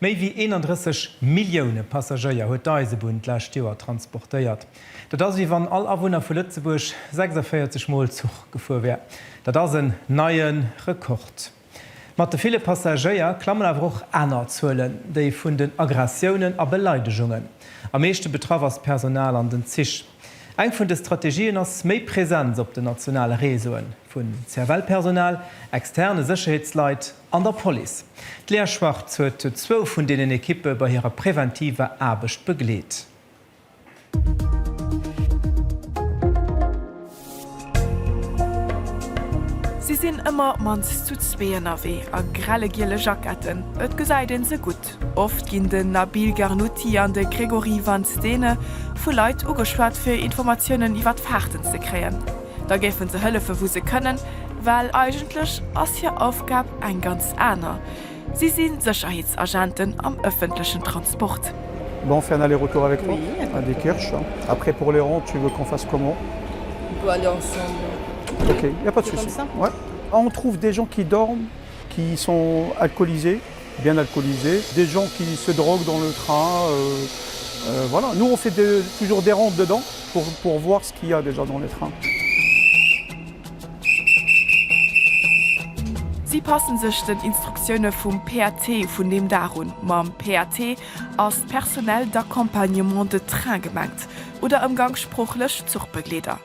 Méi wéi 31 Millioune Passagéier huet d'Eisebunn d'lescht Joer transportéiert. Dat ass, wéi wann all Awunner vu Lëtzebuerg 46 Mol Zuch gefuer wär. Dat ass en neie Rekord. Mat de ville Passagéier klammen awer och aner Zuelen, déi vun den Aggressiounen a Beleidegungen. Am meeschte betraff ass d'Personal an den Zich. Eng vun de Strategien ass méi Presenz op den nationale Réseauen, vu CFL-Personal, externe Sécherheetsleit, An der Police. D'Lea Schwartz huet zwou vun deenen Ekippe bei hirer preventiver Aarbecht begleet. Si sinn ëmmer mannst zu zwee ënnerwee a grelle giele Jacketten, et gesäit een se gutt. Lëtzebuerg. Oft ginn den Nabil Gharnouti an de Grégory Van Stene vu Leit ugeschwat fir Informatiounen iwwert Faarten ze kréien. Da géife se hëllefe wou se kënnen, well eigentlech ass hir Aufgab eng ganz aner, si si Sécherheetsagenten am ëffentlechen Transport. Bon on fait un aller retour avec toi? Oui. À Diekirch après pour les ronds tu veux qu'on fasse comment? On peut aller ensemble. Ok, il n'y a pas de souci. On fait comme ça? Ouais. On trouve des gens qui dorment, qui sont alcoolisés. Bien alcoolisé, des gens qui se droguent dans le train, voilà, nous on fait toujours des rondes dedans pour voir ce qu'il ya déjà dans les trains. Si passen sech den Instruktioune vum PAT vun deem Dag un. Mam PAT ass d'Personnel d'accompagnement de train gemengt, oder ëmgangssproochlech Zuchbegleeder.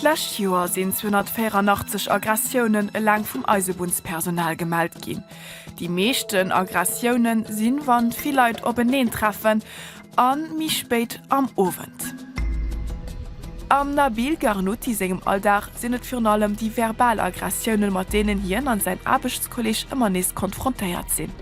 D'lescht Joer sinn 284 Aggressiounen eleng vum Eisebunnspersonal gemellt ginn. Déi meeschten Aggressioune sinn, wann vill Leit openeen treffen a méi spéit am Owend. Am Nabil Gharnouti sengem Alldag sinn et virun allem déi verbal Aggressiounen, mat deenen hien an säin Aarbechtskolleeg ëmmer nees konfrontéiert sinn.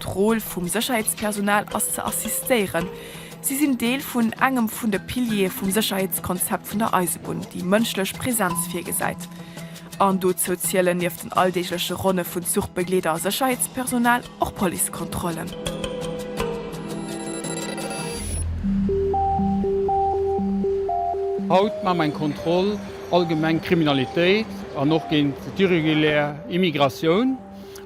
D'Roll vum Sécherheetspersonal ass ze assistéieren. Si sinn Deel vun engem vun de Piliere vum Sécherheetskonzept vun der Eisebunn, déi mënschlech Präsenz virgesäit. An dozou zielen nieft den alldeegleche Ronne vun Zuchbegleeder a Sécherheetspersonal och Policekontrollen. Haut maache mer eng Kontroll allgemeng Kriminalitéit an och géint d'irregulär Immigratioun.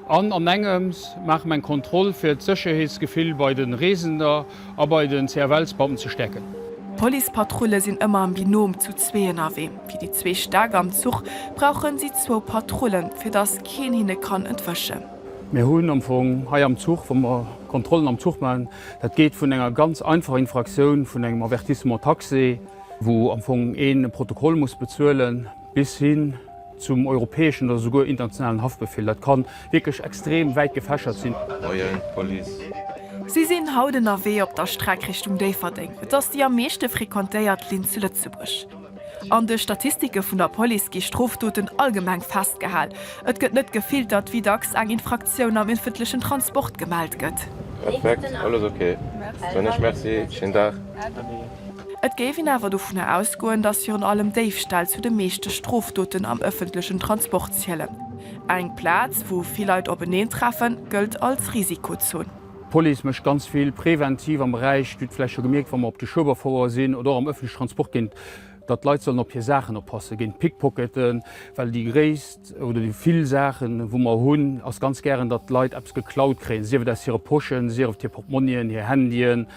An an engems maache mer eng Kontroll fir d'Sécherheetsgefill bei de Reesender a bei den CFL-Scouten ze stäerken. D'Policepatrulle sinn ëmmer am Binom zu zwee ënnerwee. Fir déi zwee Stäck am Zuch brauche si zwou Patrullen, fir dass keen hinne kann entwëschen. Mir hunn am Fong hei am Zuch, wa mer Kontrollen am Zuch maachen, dat geet vun enger ganz einfacher Infraktioun vun engem Avertissement taxé, wou am Fong een e Protokoll muss bezuelen, bis hin zum europäeschen oder souguer internationalen Haftbefehl, dat kann wierklech extrem wäit gefächert sinn. Moien Police. Si sinn haut ënnerwee op der Streck Richtung Déifferdeng. Et ass déi am meeschte frequentéiert Linn zu Lëtzebuerg. An de Statistike vun der Police gi Strofdoten allgemeng festgehal. Et gëtt net gefiltert, wéi dacks eng Infraktioun am éffentlechen Transport gemellt gëtt. Perfekt, alles ok, dann ech merci, schéin Dag. Et géif een awer dovunner ausgoen, datt virun allem Déifställ zu de meeschte Strofdoten am ëffentlechen Transport zielen. Eng Plaz, wou vill Leit openeen treffen, gëllt als Risikozon. D'Police mécht ganz vill preventiv am Beräich. Dir hutt vläicht scho gemierkt, wa mer op de Schueberfouer sinn oder och am ëffentleche Transport ginn, datt d'Leit sollen op hir Saachen oppassen géint Pickpocketen. Well déi gréisst oder déi vill Saachen, wou mer hunn, ass ganz gären, datt d'Leit eppes geklaut kréien, sief et aus hire Poschen, sief et hir Portmonnien, hir Handyen.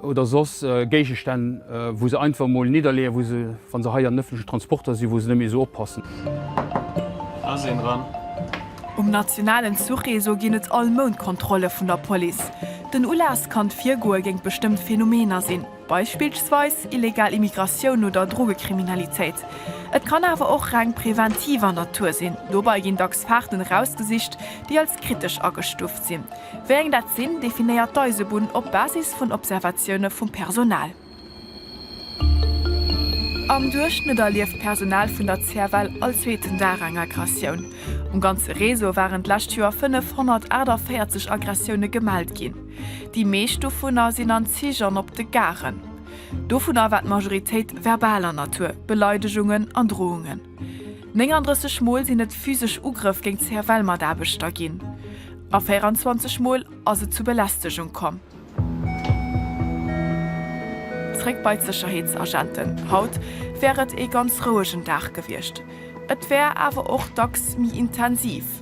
oder soss Géigestänn, wou se einfach emol nidderleeën, wou se, wa se hei an den ëffentlechen Transporter sinn, wou se net méi esou oppassen. Do ass een dran. Um nationalen Zuchreseau ginn et all Mount Kontrolle vun der Police. Den Ulass kann d'Virgoe géint bestëmmt Phänomener sinn, beispillsweis illegal Immigratioun oder Drogekriminalitéit. Et kann awer och reng preventiver Natur sinn. Dobei ginn dacks Faarten erausgesicht, déi als kritesch agestuuft sinn. Wéi eng dat sinn, definéiert d'Eisebunn op Basis vun Observatioune vum Personal. Am Duerchschnëtt erlieft d'Personal vun der CFL all zweeten Dag eng Aggressioun. Um ganze Réseau waren d'lescht Joer 548 Aggressioune gemellt ginn. Déi meescht dovunner sinn an Zich an op de Garen. Dovunner war d'Majoritéit verbaler Natur, Beleidegungen an Drohungen. 39 Mol sinn et physesch Ugrëff géint CFL-Mataarbechter ginn a 24 Mol ass et zu Belästegung komm. Zréck bei d'Sécherheetsagenten, Haut wär et ee ganz rouegen Dag gewiescht, et wär awer och dacks méi intensiv.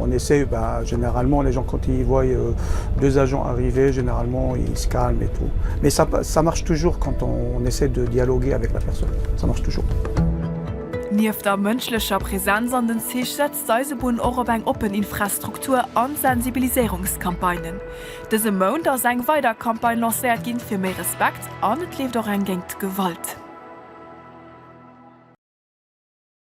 On essaie, bah généralement les gens quand ils voient deux agents arriver généralement ils se calment et tout mais ça ça marche toujours quand on essaie de dialoguer avec la personne ça marche toujours. Nieft der mënschlecher Präsenz an den Zich setzt d'Eisebunn och op eng oppen Infrastruktur an Sensibiliséierungscampagnen. Dëse Mount ass eng weider Campagne lancéiert ginn fir méi Respekt an et leeft och eng géint d'Gewalt.